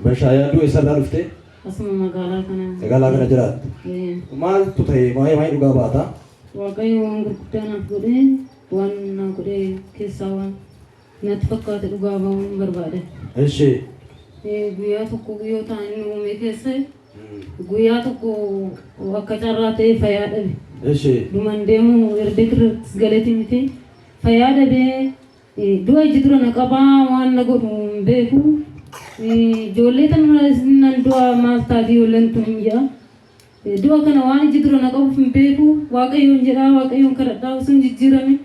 Bashaayaa du'e isarraa dhuftee Asuma magaalaa kana. magaalaa kana jiraatte. Ee, Maaltu ta'e waa'ee waa'ee dhugaa baata? Waaqayyo waan gurguddaa naaf godhee waan naa godhee keessaa waan Natti fakkaate dhugaa ba'uun barbaada. Eshii. Guyyaa tokko guyyoota inni uume keessa guyyaa tokko akka carraa ta'e fayyaa dhabe. Eshii. Duman deemu erga kirrattis galeti miti fayyaa dhabee du'a iji dura na qabaa waan na godhu hin beeku. Ijoollee tanarraa isin nan du'a maal taati ijoolleen tun hin jedha. Du'a kana waan iji dura na qabuuf hin beeku. Waaqayyoon jedhaa, Waaqayyoon kadhadhaa osoo hin jijjiiramin,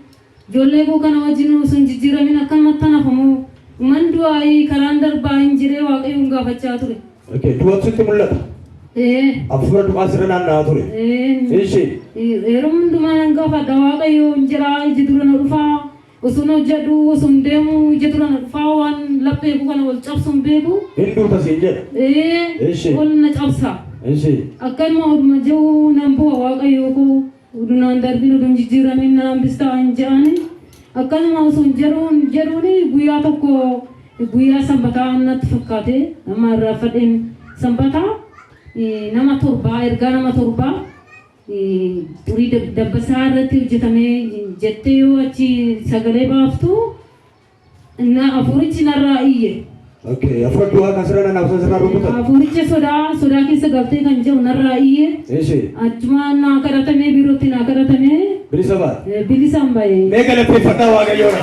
ijoollee koo kana wajjinuu osoo hin jijjiiramin akkanumattan hafa moo? Dhuman du'aayii karaan darbaa hin jedhee Waaqayyoon gaafachaa ture. Okay. Du'atu sitti mul'ata? Ee. Hafuura du'aa sirra naanna'aa ture? Ee. Ishii. Yeroo hundumaa nan gaafadha, Waaqayyoon jedhaa, iji dura na dhufaa, Usun hojjedhu usun deemu ija dura na dhufaa waan laphee koo kana ol cabsu hin beeku. Hin duuta siin jedha. Ee Eshi. ol na cabsa. Eshi. Akkanuma oduma je'u nan bu'a Waaqayyoo koo udu naan darbin udu hin jijjiiramin na hambistaa hin je'ani. Akkanuma usun jedhuun jedhuuni guyyaa tokko guyyaa sanbataa natti fakkaate amma irraanfadheen sanbata nama torbaa ergaa nama torbaa Xurii dabbasaa irratti hojjetame jettee yoo achi sagalee baaftu na afuurichi narraa iyye. Okay, afur du'a kan sirana na afur sirra rukutan. Afuuricha sodaa sodaa keessa galtee kan jiru narraa iyye. Eshi, Achuma naa kadhatamee biirootti naa kadhatamee bilisa baate. eh, bilisaan ba'e. Mee galateeffadhaa Waaqayyoodha.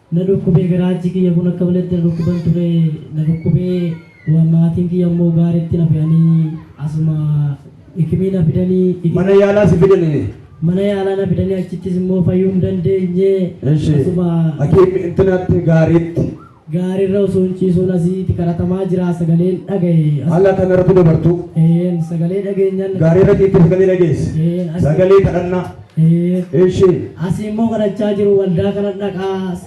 Na dhukkubee garaachi kiyya kun akka maletti na dhukkuban ture na dhukkubee wa maatiin kiyya immoo gaaritti na fe'anii asuma ikimii na fidanii ikimii Mana yaalaa si fidanii. mana yaalaa na fidanii achittis immoo fayyuu hin dandeenye Eshi. asuma Hakiim intinaatti gaariitti. gaariirra osoo hin ciisuun asitti kadhatamaa jira sagaleen dhagaye as- Haala kana irratti dabartuu. Een, sagalee dhageenyaan Gaariirra ciittee sagalee dhageesse. Een, as- Sagalee kadhannaa. Eshi. Asi immoo kadhachaa jiru waldaa kana dhaqaa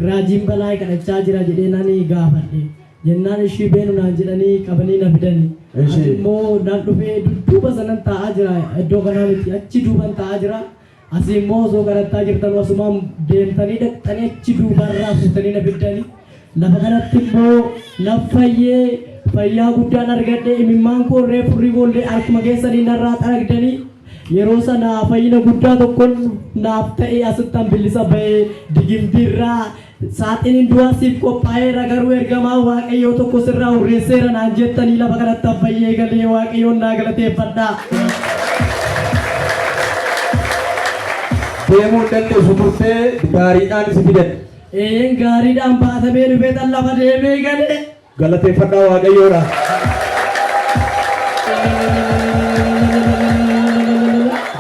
raajiin balaay kadhachaa jira jedhee nani gaafadhe jennaan ishii beenu naan jedhanii qabanii na fidani Eshi. Ani immoo nan dhufee dudduuba sanan taa'aa jira iddoo kanaa miti achi duuban taa'aa jira asi immoo osoo kadhattaa jirtan asumaan deemtanii dhaqxanii achi duubarraa fuutanii na fiddani Lafa kanatti immoo naf fayyee fayyaa guddaan argadhe imimmaan koo irree furrii boollee harkuma keessanii narraa xaragdanii yeroo sana fayyina guddaa tokkon naaf ta'e asittan billisa ba'ee digimtiirraa saaxiniin du'aa siif qophaa'eera garuu ergamaa waaqayyoo tokko sirraa hurreesseera naan jettanii lafa kanatti an fayyee galee waaqayyoon naa galateeffadha. deemuu hin dandeessu turtee gaariidhaan si fidan. Eeyyeen gaariidhaan baatamee dhufee tan lafa deemee galee. Galateeffadhaa Waaqayyoodha.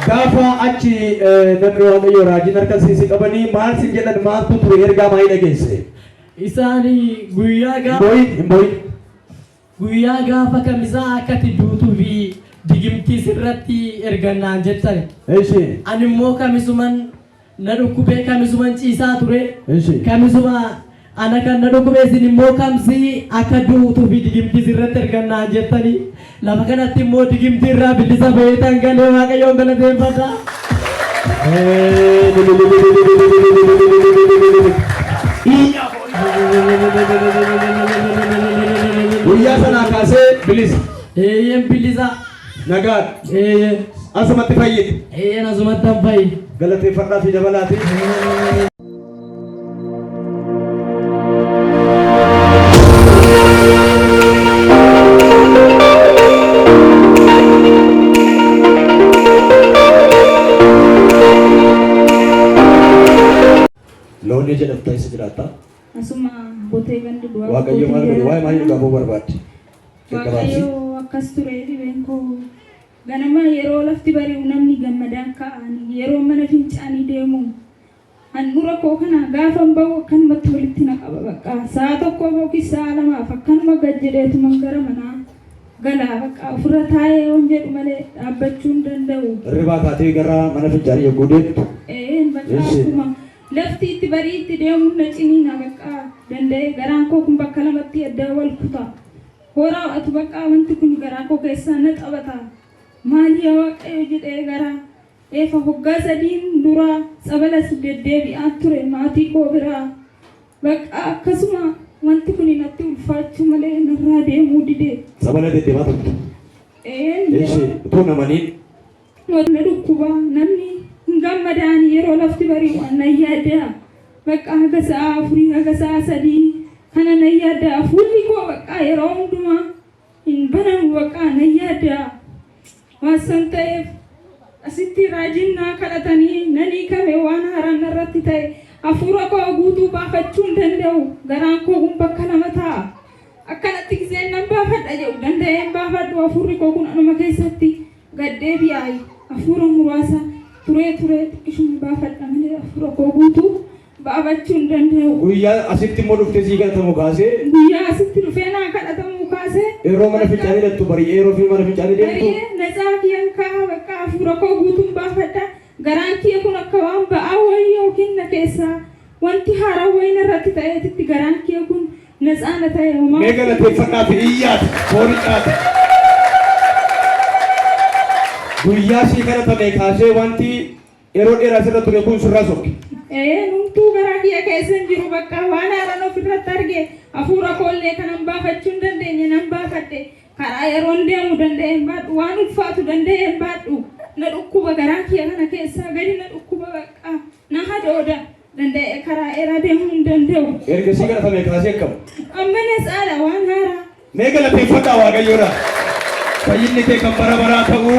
Gaafa achi eh, namni Waaqayyoo raajiin harka siisi qabanii maal sin jedhan maaltu ture ergaa maayii dhageesse. Isaanii guyyaa Hin gaafa. boo'in, hin boo'in. Guyyaa gaafa kamisaa akkati duutu fi digimtii sirratti ergan naan jettani. Eshi. Ani immoo kamisuman na dhukkubee kamisuman ciisaa ture. Eshi. Kamisuma ana kan na dhukkubee isin immoo kamsi akka duutu fi digimtii sirratti ergan naan jettani. Lafa kanatti immoo digimtii irraa bilisa bahee tan galee waaqayyoon galateeffadha. Eeyyee. Guyyaa sanaa kaasee bilisa. Eeyyeen bilisa. Nagaan. Eeyyeen. Asumatti fayyite. Eeyyeen asumatti hin fayyi. Galateeffadhaa fi dabalaati. Loon ija dhabta isa jiraatta. Asuma botee gandi du'aa Waaqayyo maal godhe? Waa'ee maalii dhugaa ba'uu barbaadde? Waaqayyo akkas ture dhibeen koo ganama yeroo lafti bari'u namni gammadaan ka'an yeroo mana fincaanii deemu handhuura koo kana gaafan ba'u akkanumatti walitti na qaba bakka sa'a tokkoof yookiis sa'a lamaaf akkanuma gad jedheetuman gara manaa Gala bakka ofirra taa'ee yoon jedhu malee dhaabbachuu hin danda'u. Hirribaa kaatee gara mana fincaanii yogguu deemtu. Eeyyeen bakka Eessi. akkuma lafti itti barii itti deemuun na ciniina bakka danda'ee garaan koo kun bakka lamatti adda wal kuta. Horaa atu bakka wanti kun garaa koo keessaa na taphata. Maali yaa waaqayyo jedhee garaa. Eefa hoggaa sadiin duraa tsabalas deddeebi'aa ture maatii koo biraa. Baqqaa akkasuma wanti kuni natti ulfaachuu malee narraa deemuu dide. Tsabala deddemaa turte? Eeyeen Eshi yeroo utuu namaniin na dhukkuba namni hin gammadaan yeroo lafti bari'u an nan yaadda'a. Baqqaa haga sa'aa afurii haga sa'aa sadii kana nan yaadda'a fuulli koo baqqaa yeroo hundumaa Hin banamu baqaa nan yaadda waan san ta'eef asitti raajiin naa kadhatanii nan hiikame waan haaraan narratti ta'e hafuura koo guutuu baafachuu hin danda'u garaan koo kun bakka lama taa'a akkanatti gizeen nan baafadha jedhu danda'ee hin baafadhu hafuurri koo kun anuma keessatti gaddee fi aayi hafuura muraasa turee turee xiqqishuma baafadha malee hafuura koo guutuu baafachuu hin danda'u. Guyyaa asitti immoo dhuftee sii kadhatamu kaasee. Guyyaa asitti dhufee naa kadhatamu kaasee. Yeroo mana fincaanii dhaqxu bari'ee yeroo fi mana fincaanii deemtu. Bari'ee natsaa kiyan kaa bakka hafuura koo guutuun baafadha. Garaan kiya kun akka waan ba'aa wayii yookiin na keessaa wanti haaraa wayii narratti ta'eetitti garaan kiya kun natsaa na ta'e homaa. Mee galateeffadhaa fi iyyaati foonicaati. Guyyaa sii kadhatame kaasee wanti Yeroo dheera asirra ture kun sirraa sokke. Ee numtuu garaa kiyya keessa hin jiru bakka waan haaran ofirratti arge hafuura koollee kanan baafachuu hin dandeenye nan baafadhe karaa yeroon deemu danda'e hin baadhu waan ulfaatu danda'e hin baadhu na dhukkuba garaa kiyya kana keessaa gadi na dhukkuba bakka na hadooda danda'e karaa dheeraa deemuu hin danda'u. Erga sii kadhatame kaasee akkam. Amma na saala waan haaraa. Mee galateeffadhaa waaqayyoodha. Fayyinni kee kan bara baraa ta'uu.